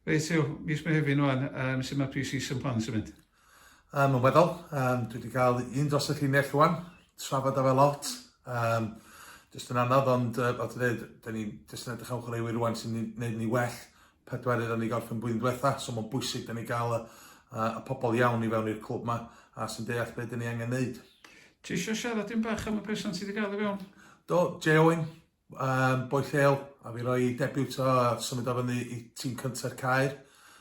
Reit, yw, mis Mehefin o'n, um, sy'n mae pre-season plans yn mynd? Um, yn weddol, um, dwi wedi cael un dros y llinell o'n, trafod o fe lot. Um, jyst yn anodd, ond uh, fel ti'n dweud, da ni'n jyst yn edrych am chwaraewyr rwan sy'n gwneud ni well pedwar iddyn ni gorffen blwyddyn diwetha, so mae'n bwysig da ni gael y, uh, y pobl iawn i fewn i'r clwb yma a sy'n deall beth da ni angen wneud. Ti eisiau siarad yn bach am y person sydd wedi gael ei fewn? Do, Jay Owen, Yym, boi lleol, a fi roi debut o a symud o fyny i tîm cynta'r Caer.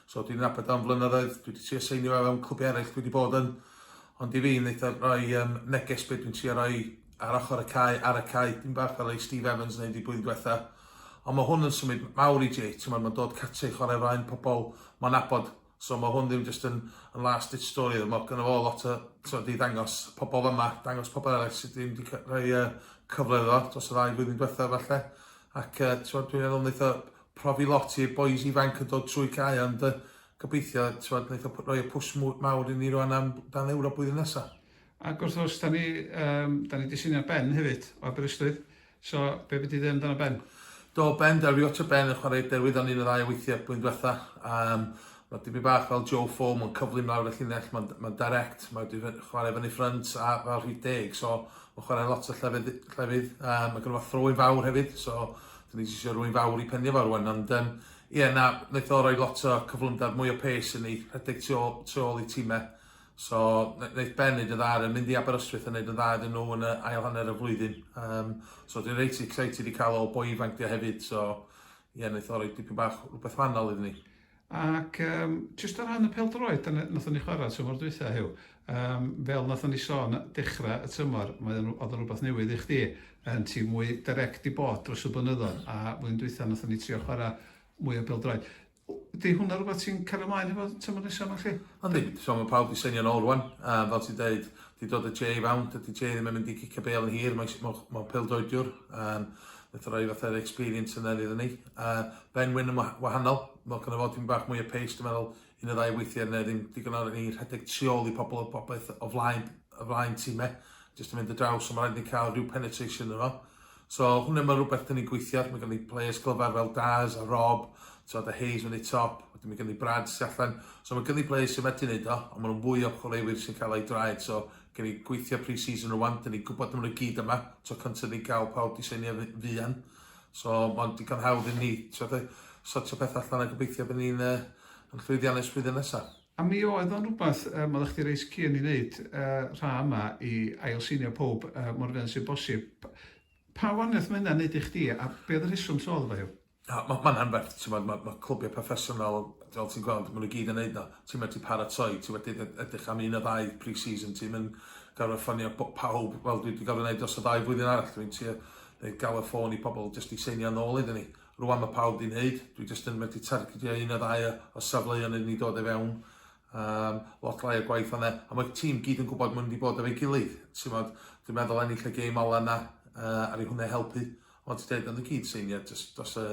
So dwi'n nabod o'n flynyddoedd, dwi wedi trio seinio fe fewn clwbiau eraill dwi wedi bod yn. Ond i fi, wneud o roi um, neges beth dwi'n trio roi ar ochr y cae, ar y cae, dim bach fel ei Steve Evans wneud i blwyddyn diwetha. Ond mae hwn yn symud mawr i Jay, ti'n meddwl, mae'n dod cartre i chwarae flaen pobl, mae'n abod So ma' hwn ddim jyst yn yn last ditch story o'dd ma' gynno fo lot o t'mod i ddangos pobol yma, dangos pobol eraill sydd ddim wedi cael rhai yy cyfle iddo fo dros y ddau flwyddyn diwetha falle ac yy t'mod dwi'n meddwl wneith o profi lot i'r bois ifanc yn dod trwy cae ond yy gobeithio t'mod wneith o roi y pwsh mawr i ni rwan am dan Ewrop blwyddyn nesa. Ac wrth gwrs da ni yym da ni 'di symud ar ben hefyd o Aberystwyth So, be be ti'n ddeud amdano Ben? Do, Ben, da rio ta Ben yn chwarae derwydd o'n un o ddau o weithiau blwyddyn diwetha. Um, mae dipyn bach fel Joe Foam yn cyflym lawr y llinell, mae'n ma direct, mae wedi chwarae fyny ffrynt a fel rhif deg, so mae'n chwarae lot o llefydd, llefydd um, mae gen fo throwyn fawr hefyd, so dyn ni'n eisiau rwy'n fawr i penio fawr rwan, ond um, ie, na, wnaeth o roi lot o cyflymder, mwy o pes yn ei rhedeg tu ôl, tu ôl i tîmau, So, neith Ben neud yn dda ar y... mynd i Aberystwyth a neud yn dda iddyn nhw yn y ail hanner y flwyddyn. Yym, so dwi'n reit excited i cael ol boi ifanc 'di o hefyd, so ie, neith o roi dipyn bach rwbeth wahanol iddyn ni. Ac yym, jyst o ran y pêl-droed, dyna beth nathon ni chwara tymor dwytha, Huw. Yym, fel nathon ni sôn dechra y tymor, mae o'n... o'dd o'n rwbath newydd i chdi, yn tîm mwy direct di bod dros y blynyddodd, a flwyddyn dwytha nathon ni trio chwara mwy o bêl-droed. Ydy hwnna rhywbeth ti'n cario ymlaen efo tymor nesa yma chi? Yndi, so mae pawb wedi seinio nôl rwan, a fel ti'n deud, wedi dod y Jay i fewn, dydy Jay ddim yn mynd i gicio bel yn hir, mae'n ma, ma pildroediwr, um, wnaeth roi fath o'r experience yna iddyn ni. Uh, ben Wyn yn wahanol, mae gynnu fod yn bach mwy o pace, dwi'n meddwl, un o ddau weithiau neu ddim digon o'r ni rhedeg tu ôl i pobl o bobeth o flaen, o flaen tîmau, jyst yn mynd y draws, so mae'n rhaid ni cael rhyw penetration yno. So hwnna mae rhywbeth dan ni'n gweithio at, mae gen ni players clyfar fel Daz a Rob, tibod a Hayes yn ei top, wedyn mae gen ni Brad sy'n allan, so mae gen ni players sy'n medru wneud o, ond maen nhw'n fwy o chwaraewyr sy'n cael eu draed, so gen ni gweithio pre-season rwan, dan ni'n gwybod maen nhw gyd yma, tro cyntaf ni'n cael pawb di seinio fuan, so mae'n digon hawdd i ni, tibod, sortio pethau allan a gobeithio bod ni'n uh, yn llwyddiannus flwyddyn nesaf. A mi oedd o'n rhywbeth, yym, oeddach chdi reit keen i neud, yy, rha yma i ail-sinio powb, yy, mor fuan sy'n bosib. P- pa waniath ma' hynna'n neud i chdi, a be' oedd y rheswm trodd efo hi? Na, ma' ma'n anferth, t'mod, ma' ma' clwbiau proffesiynol, fel ti'n gweld, ma' nhw gyd yn neud o. Ti'n medru paratoi, ti wedi ed- edrych am un neu ddau pre-season, ti'm yn gorfod ffonio bo- pawb, fel dwi 'di gorfod neud dros y ddau flwyddyn arall, dwi'n trio neud galw ffôn i pobl jyst i seinio nôl iddyn ni. Rwan mae pawb di'n neud, dwi jyst yn medru targedio un a ddau o safleoedd yn ei dod i fewn. Um, lot lai o gwaith yna, a mae'r tîm gyd yn gwybod mae'n mynd i bod efo'i gilydd. Ti'n modd, dwi'n meddwl ennill y gêm ola yna, uh, ar ei hwnna helpu. Ond ti'n dweud, ond y gyd seinio, jyst dos y,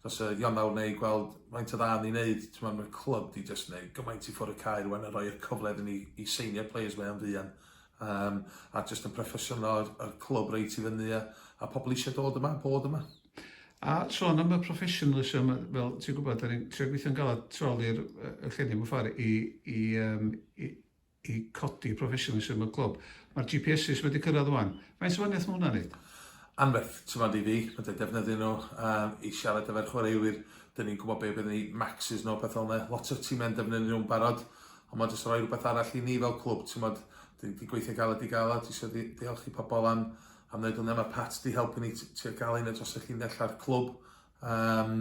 dos y Ionawr neu gweld faint o dda ni'n neud. Ti'n modd, mae'r clwb di jyst neud gymaint i ffwrdd y cair rwan a roi'r cyfle iddyn ni i seinio players mae o'n fuan. Um, a jyst yn proffesiynol o'r clwb reit i fyny a, a pobl eisiau dod yma, bod yma. A sôn am y professionalism, fel ti'n gwybod, da ni'n trio gweithio'n galed trol i'r llenni mewn ffordd i, i, um, i, i codi professionalism y clwb. Mae'r GPSs wedi cyrraedd o'n. Mae'n sefyniaeth mae hwnna'n neud? Anferth, ti'n fawr i fi, mae dweud defnyddio nhw um, i siarad efo'r chwaraewyr, dyn ni'n gwybod beth bydd ni maxes nhw, beth o'n lot o'r tîmau'n defnyddio nhw'n barod, ond mae'n jyst rhoi rhywbeth arall i ni fel clwb, ti'n fawr, dyn ni'n gweithio galed i galed, eisiau ddiolch i pobl am, Am wneud hwnna mae Pat wedi helpu ni tua gael un o dros y llinell a'r clwb. Um,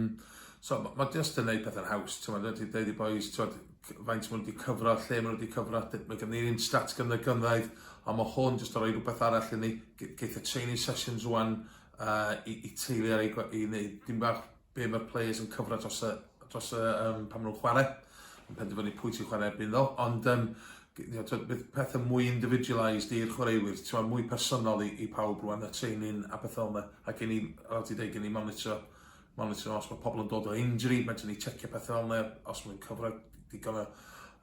so mae ma just yn gwneud pethau'n haws. Ti'n meddwl, wedi dweud i boys, ti'n meddwl, faint maen nhw wedi cyfro, lle maen nhw wedi cyfro, mae gen ni'n un stats gyda gynraedd, ond mae hwn jyst o roi rhywbeth arall i ni. Geith y training sessions rwan uh, i, i teulu ar ei i wneud dim bach be mae'r players yn cyfra dros y, dros y um, pan maen nhw'n chwarae, yn penderfynu pwy ti'n chwarae erbyn ddo, ond um, bydd pethau mwy individualised i'r chwaraewyr, ti'n mwy personol i, i pawb rwan, y training a bethau yma, a gen i, fel ti dweud, gen i monitor, monitor os mae pobl yn dod o injury, mae gen i checio pethau fel yna, os mae'n cyfra digon o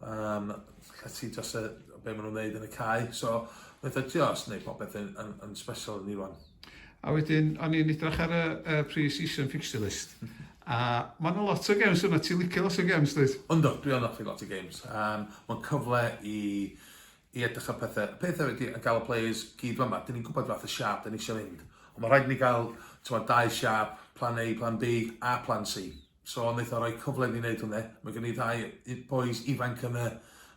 um, llety dros y, be maen nhw'n neud yn y cae, so bethau ti os wneud popeth yn, yn, yn special yn ni rwan. A wedyn, o'n i'n edrych ar y, y pre-season fixture list. A mae'n yna lot o games yna, ti'n licio lot o games, dweud? Ynddo, dwi yn offi lot o games. Um, mae'n cyfle i, i edrych ar pethau. Y pethau wedi yn gael y players gyd fan yma, dyn ni'n gwybod fath y siap dyn ni eisiau mynd. Ond mae rhaid ni gael, ti'n dau siap, plan A, plan B a plan C. So neith o roi cyfle i ni neud hwnne. Mae gen i ddau yy bois ifanc yn y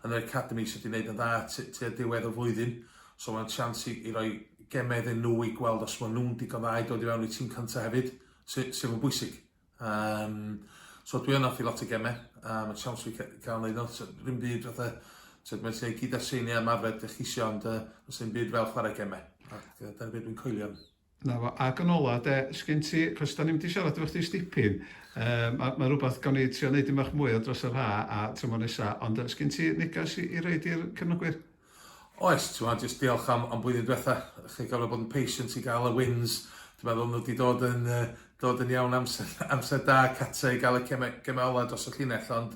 yn yr academi sy 'di neud yn dda t- tua diwedd y flwyddyn. So ma'n chance i i roi geme iddyn nhw i gweld os ma' nhw'n digon dda i dod i fewn i tîm cynta hefyd, sy sydd yn bwysig. Yym so dwi yn offi lot o geme a ma' chance fi ca- ca'l neud nhw. So ddim byd fatha t'od ma' lle gyd â seiniau ymarfer 'dych chi isio ond yy do's dim byd fel chware geme. Ac yy dyna be' dwi'n coelio yn. 'Na fo. Ac yn ola 'de, sgen ti, 'chos 'dan ni'm 'di siarad efo chdi 's dipyn, yym ma' ma' rwbath gawn ni trio neud 'im bach mwy o dros yr ha' a tymor nesa, ond yy 'sgen ti negas i i roid i'r cefnogwyr? Oes, t'mod jyst diolch am am blwyddyn dwetha, chi'n gorfod bod yn patient i ga'l y wins, dwi'n meddwl ma' nw 'di dod yn yy dod yn iawn amser amser da Cate i ga'l y ceme- geme ola dros y llinell ond